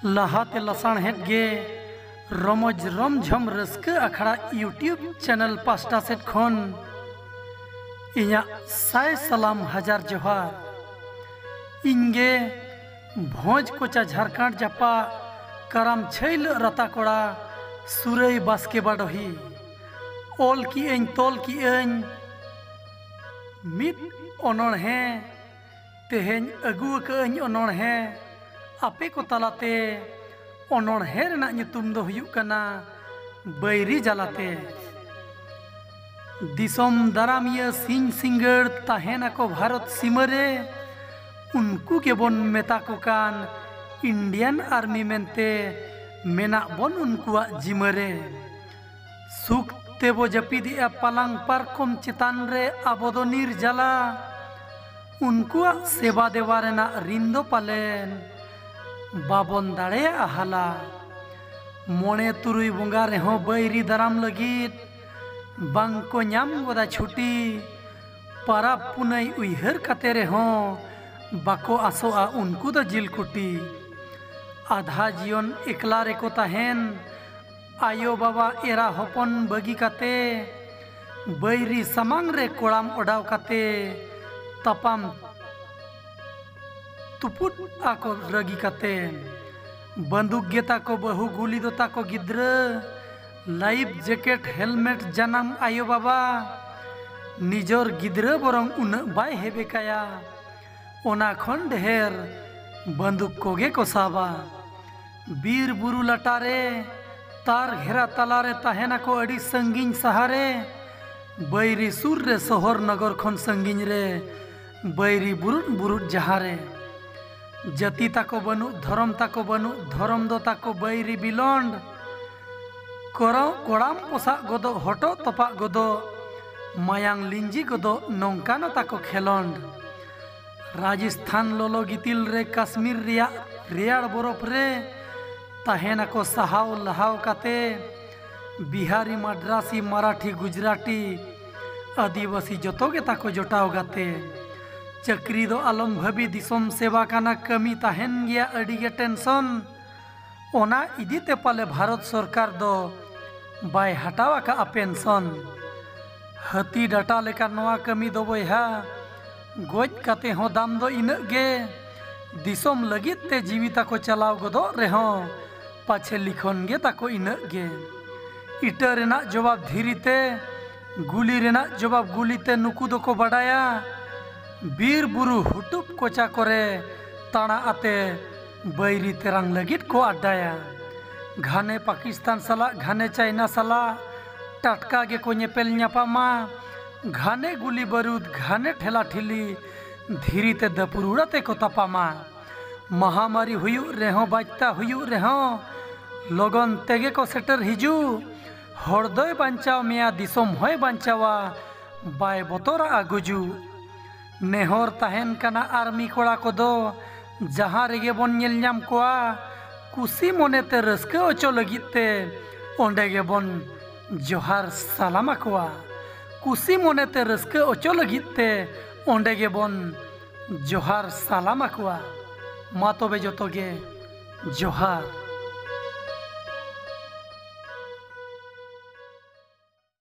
ᱞᱟᱦᱟᱛᱮ ᱞᱟᱥᱟᱬᱦᱮᱫ ᱜᱮ ᱨᱚᱢᱚᱡᱽ ᱨᱚᱢᱡᱷᱚᱢ ᱨᱟᱹᱥᱠᱟᱹ ᱟᱠᱷᱲᱟ ᱤᱭᱩᱴᱤᱭᱩᱵᱽ ᱪᱮᱱᱮᱞ ᱯᱟᱥᱴᱟ ᱥᱮᱫ ᱠᱷᱚᱱ ᱤᱧᱟᱹᱜ ᱥᱟᱭ ᱥᱟᱞᱟᱢ ᱦᱟᱡᱟᱨ ᱡᱚᱦᱟᱨ ᱤᱧᱜᱮ ᱵᱷᱚᱸᱡᱽ ᱠᱚᱪᱟ ᱡᱷᱟᱨᱠᱷᱟᱸᱰ ᱡᱟᱯᱟ ᱠᱟᱨᱟᱢ ᱪᱷᱟᱹᱭᱞᱟᱹᱜ ᱨᱟᱛᱟ ᱠᱚᱲᱟ ᱥᱩᱨᱟᱹᱭ ᱵᱟᱥᱠᱮ ᱵᱟᱰᱚᱦᱤ ᱚᱞ ᱠᱤ ᱟᱹᱧ ᱛᱚᱞ ᱠᱤ ᱟᱹᱧ ᱢᱤᱫ ᱚᱱᱚᱬᱦᱮᱸ ᱛᱮᱦᱮᱧ ᱟᱹᱜᱩ ᱟᱠᱟᱫᱟᱹᱧ ᱚᱱᱚᱬᱦᱮ ᱟᱯᱮ ᱠᱚ ᱛᱟᱞᱟᱛᱮ ᱚᱱᱚᱬᱦᱮ ᱨᱮᱱᱟᱜ ᱧᱩᱛᱩᱢ ᱫᱚ ᱦᱩᱭᱩᱜ ᱠᱟᱱᱟ ᱵᱟᱹᱭᱨᱤ ᱡᱟᱞᱟᱛᱮ ᱫᱤᱥᱚᱢ ᱫᱟᱨᱟᱢᱤᱭᱟᱹ ᱥᱤᱧ ᱥᱤᱸᱜᱟᱹᱲ ᱛᱟᱦᱮᱱᱟᱠᱚ ᱵᱷᱟᱨᱚᱛ ᱥᱤᱢᱟᱹ ᱨᱮ ᱩᱱᱠᱩ ᱜᱮᱵᱚᱱ ᱢᱮᱛᱟ ᱠᱚ ᱠᱟᱱ ᱤᱱᱰᱤᱭᱟᱱ ᱟᱨᱢᱤ ᱢᱮᱱᱛᱮ ᱢᱮᱱᱟᱜ ᱵᱚᱱ ᱩᱱᱠᱩᱣᱟᱜ ᱡᱤᱢᱟᱹ ᱨᱮ ᱥᱩᱠ ᱛᱮᱵᱚ ᱡᱟᱹᱯᱤᱫᱮᱜᱼᱟ ᱯᱟᱞᱟᱝ ᱯᱟᱨᱠᱚᱢ ᱪᱮᱛᱟᱱ ᱨᱮ ᱟᱵᱚ ᱫᱚ ᱱᱤᱨᱡᱟᱞᱟ ᱩᱱᱠᱩᱣᱟᱜ ᱥᱮᱵᱟ ᱫᱮᱵᱟ ᱨᱮᱱᱟᱜ ᱨᱤᱱ ᱫᱚ ᱯᱟᱞᱮᱱ ᱵᱟᱵᱚᱱ ᱫᱟᱲᱮᱭᱟᱜᱼᱟ ᱦᱟᱞᱟ ᱢᱚᱬᱮ ᱛᱩᱨᱩᱭ ᱵᱚᱸᱜᱟ ᱨᱮᱦᱚᱸ ᱵᱟᱹᱭᱨᱤ ᱫᱟᱨᱟᱢ ᱞᱟᱹᱜᱤᱫ ᱵᱟᱝᱠᱚ ᱧᱟᱢ ᱜᱚᱫᱟ ᱪᱷᱩᱴᱤ ᱯᱟᱨᱟᱵᱽ ᱯᱩᱱᱟᱹᱭ ᱩᱭᱦᱟᱹᱨ ᱠᱟᱛᱮ ᱨᱮᱦᱚᱸ ᱵᱟᱠᱚ ᱟᱥᱚᱜᱼᱟ ᱩᱱᱠᱩ ᱫᱚ ᱡᱤᱞ ᱠᱩᱴᱤ ᱟᱫᱷᱟ ᱡᱤᱭᱚᱱ ᱮᱠᱞᱟ ᱨᱮᱠᱚ ᱛᱟᱦᱮᱱ ᱟᱭᱳ ᱵᱟᱵᱟ ᱮᱨᱟ ᱦᱚᱯᱚᱱ ᱵᱟᱹᱜᱤ ᱠᱟᱛᱮ ᱵᱟᱹᱭᱨᱤ ᱥᱟᱢᱟᱝ ᱨᱮ ᱠᱚᱲᱟᱢ ᱚᱰᱟᱣ ᱠᱟᱛᱮ ᱛᱟᱯᱟᱢ ᱛᱩᱯᱩᱫ ᱟᱠᱚ ᱨᱟᱹᱜᱤ ᱠᱟᱛᱮ ᱵᱟᱹᱱᱫᱩᱠ ᱜᱮ ᱛᱟᱠᱚ ᱵᱟᱹᱦᱩ ᱜᱩᱞᱤ ᱫᱚ ᱛᱟᱠᱚ ᱜᱤᱫᱽᱨᱟᱹ ᱞᱟᱭᱤᱯᱷ ᱡᱮᱠᱮᱴ ᱦᱮᱞᱢᱮᱴ ᱡᱟᱱᱟᱢ ᱟᱭᱳ ᱵᱟᱵᱟ ᱱᱤᱡᱚᱨ ᱜᱤᱫᱽᱨᱟᱹ ᱵᱚᱨᱚᱝ ᱩᱱᱟᱹᱜ ᱵᱟᱭ ᱦᱮᱵᱮ ᱠᱟᱭᱟ ᱚᱱᱟ ᱠᱷᱚᱱ ᱰᱷᱮᱨ ᱵᱟᱹᱱᱫᱩᱠ ᱠᱚᱜᱮ ᱠᱚ ᱥᱟᱵᱟ ᱵᱤᱨ ᱵᱩᱨᱩ ᱞᱟᱴᱟ ᱨᱮ ᱛᱟᱨ ᱜᱷᱮᱨᱟ ᱛᱟᱞᱟ ᱨᱮ ᱛᱟᱦᱮᱱ ᱟᱠᱚ ᱟᱹᱰᱤ ᱥᱟᱺᱜᱤᱧ ᱥᱟᱦᱟ ᱨᱮ ᱵᱟᱹᱭᱨᱤ ᱥᱩᱨ ᱨᱮ ᱥᱚᱦᱚᱨ ᱱᱚᱜᱚᱨ ᱠᱷᱚᱱ ᱥᱟᱺᱜᱤᱧ ᱨᱮ ᱵᱟᱹᱭᱨᱤ ᱵᱩᱨᱩᱫ ᱵᱩᱨᱩᱫ ᱡᱟᱦᱟᱸ ᱨᱮ ᱡᱟᱹᱛᱤ ᱛᱟᱠᱚ ᱵᱟᱹᱱᱩᱜ ᱫᱷᱚᱨᱚᱢ ᱛᱟᱠᱚ ᱵᱟᱹᱱᱩᱜ ᱫᱷᱚᱨᱚᱢ ᱫᱚ ᱛᱟᱠᱚ ᱵᱟᱹᱭᱨᱤ ᱵᱤᱞᱚᱱᱰ ᱠᱚᱨᱚ ᱠᱚᱲᱟᱢ ᱯᱚᱥᱟᱜ ᱜᱚᱫᱚᱜ ᱦᱚᱴᱚᱜ ᱛᱚᱯᱟᱜ ᱜᱚᱫᱚᱜ ᱢᱟᱭᱟᱝ ᱞᱤᱸᱡᱤ ᱜᱚᱫᱚᱜ ᱱᱚᱝᱠᱟᱱᱚ ᱛᱟᱠᱚ ᱠᱷᱮᱞᱚᱸᱰ ᱨᱟᱡᱚᱥᱛᱷᱟᱱ ᱞᱚᱞᱚ ᱜᱤᱛᱤᱞ ᱨᱮ ᱠᱟᱥᱢᱤᱨ ᱨᱮᱭᱟᱜ ᱨᱮᱭᱟᱲ ᱵᱚᱨᱚᱯ ᱨᱮ ᱛᱟᱦᱮᱱᱟ ᱠᱚ ᱥᱟᱦᱟᱣ ᱞᱟᱦᱟᱣ ᱠᱟᱛᱮ ᱵᱤᱦᱟᱨᱤ ᱢᱟᱰᱨᱟᱥᱤ ᱢᱟᱨᱟᱴᱷᱤ ᱜᱩᱡᱽᱨᱟᱴᱤ ᱟᱹᱫᱤᱵᱟᱹᱥᱤ ᱡᱚᱛᱚ ᱜᱮ ᱛᱟᱠᱚ ᱡᱚᱴᱟᱣ ᱜᱟᱛᱮ ᱪᱟᱹᱠᱨᱤ ᱫᱚ ᱟᱞᱚᱢ ᱵᱷᱟᱹᱵᱤ ᱫᱤᱥᱚᱢ ᱥᱮᱵᱟ ᱠᱟᱱᱟ ᱠᱟᱹᱢᱤ ᱛᱟᱦᱮᱱ ᱜᱮᱭᱟ ᱟᱹᱰᱤ ᱜᱮ ᱴᱮᱱᱥᱚᱱ ᱚᱱᱟ ᱤᱫᱤ ᱛᱮ ᱯᱟᱞᱮ ᱵᱷᱟᱨᱚᱛ ᱥᱚᱨᱠᱟᱨ ᱫᱚ ᱵᱟᱭ ᱦᱟᱴᱟᱣ ᱟᱠᱟᱫᱼᱟ ᱯᱮᱱᱥᱚᱱ ᱦᱟᱹᱛᱤ ᱰᱟᱴᱟ ᱞᱮᱠᱟ ᱱᱚᱣᱟ ᱠᱟᱹᱢᱤ ᱫᱚ ᱵᱚᱭᱦᱟ ᱜᱚᱡ ᱠᱟᱛᱮ ᱦᱚᱸ ᱫᱟᱢ ᱫᱚ ᱤᱱᱟᱹᱜ ᱜᱮ ᱫᱤᱥᱚᱢ ᱞᱟᱹᱜᱤᱫ ᱛᱮ ᱡᱤᱣᱤ ᱛᱟᱠᱚ ᱪᱟᱞᱟᱣ ᱜᱚᱫᱚᱜ ᱨᱮᱦᱚᱸ ᱯᱟᱪᱷᱮ ᱞᱤᱠᱷᱚᱱ ᱜᱮ ᱛᱟᱠᱚ ᱤᱱᱟᱹᱜ ᱜᱮ ᱤᱴᱟᱹ ᱨᱮᱱᱟᱜ ᱡᱚᱵᱟᱵ ᱫᱷᱤᱨᱤ ᱛᱮ ᱜᱩᱞᱤ ᱨᱮᱱᱟᱜ ᱡᱚᱵᱟᱵ ᱜᱩᱞᱤ ᱛᱮ ᱱᱩᱠᱩ ᱫᱚᱠᱚ ᱵᱟᱰᱟᱭᱟ ᱵᱤᱨ ᱵᱩᱨᱩ ᱦᱩᱴᱩᱵ ᱠᱚᱪᱟ ᱠᱚᱨᱮ ᱛᱟᱬᱟ ᱟᱛᱮ ᱵᱟᱹᱭᱨᱤ ᱛᱮᱨᱟᱝ ᱞᱟᱹᱜᱤᱫ ᱠᱚ ᱟᱰᱰᱟᱭᱟ ᱜᱷᱟᱱᱮ ᱯᱟᱠᱤᱥᱛᱟᱱ ᱥᱟᱞᱟᱜ ᱜᱷᱟᱱᱮ ᱪᱟᱭᱱᱟ ᱥᱟᱞᱟᱜ ᱴᱟᱴᱠᱟ ᱜᱮᱠᱚ ᱧᱮᱯᱮᱞ ᱧᱟᱯᱟᱢᱟ ᱜᱷᱟᱱᱮ ᱜᱩᱞᱤ ᱵᱟᱹᱨᱩᱫᱽ ᱜᱷᱟᱱᱮ ᱴᱷᱮᱞᱟ ᱴᱷᱤᱞᱤ ᱫᱷᱤᱨᱤ ᱛᱮ ᱫᱟᱹᱯᱩᱨᱩᱲᱟ ᱛᱮ ᱠᱚ ᱛᱟᱯᱟᱢᱟ ᱢᱟᱦᱟᱢᱟᱨᱤ ᱦᱩᱭᱩᱜ ᱨᱮᱦᱚᱸ ᱵᱟᱡᱽᱛᱟ ᱦᱩᱭᱩᱜ ᱨᱮᱦᱚᱸ ᱞᱚᱜᱚᱱ ᱛᱮᱜᱮ ᱠᱚ ᱥᱮᱴᱮᱨ ᱦᱤᱡᱩᱜ ᱦᱚᱲ ᱫᱚᱭ ᱵᱟᱧᱪᱟᱣ ᱢᱮᱭᱟ ᱫᱤᱥᱚᱢ ᱦᱚᱸᱭ ᱵᱟᱧᱪᱟᱣᱟ ᱵᱟᱭ ᱵᱚᱛᱚᱨᱟᱜᱼᱟ ᱜᱩᱡᱩᱜ ᱱᱮᱦᱚᱨ ᱛᱟᱦᱮᱱ ᱠᱟᱱᱟ ᱟᱨᱢᱤ ᱠᱚᱲᱟ ᱠᱚᱫᱚ ᱡᱟᱦᱟᱸ ᱨᱮᱜᱮ ᱵᱚᱱ ᱧᱮᱞ ᱧᱟᱢ ᱠᱚᱣᱟ ᱠᱩᱥᱤ ᱢᱚᱱᱮ ᱛᱮ ᱨᱟᱹᱥᱠᱟᱹ ᱚᱪᱚ ᱞᱟᱹᱜᱤᱫ ᱛᱮ ᱚᱸᱰᱮ ᱜᱮᱵᱚᱱ ᱡᱚᱦᱟᱨ ᱥᱟᱞᱟᱢ ᱟᱠᱚᱣᱟ ᱠᱩᱥᱤ ᱢᱚᱱᱮᱛᱮ ᱨᱟᱹᱥᱠᱟᱹ ᱚᱪᱚ ᱞᱟᱹᱜᱤᱫ ᱛᱮ ᱚᱸᱰᱮ ᱜᱮᱵᱚᱱ ᱡᱚᱦᱟᱨ ᱥᱟᱞᱟᱢ ᱟᱠᱚᱣᱟ ᱢᱟ ᱛᱚᱵᱮ ᱡᱚᱛᱚ ᱜᱮ ᱡᱚᱦᱟᱨ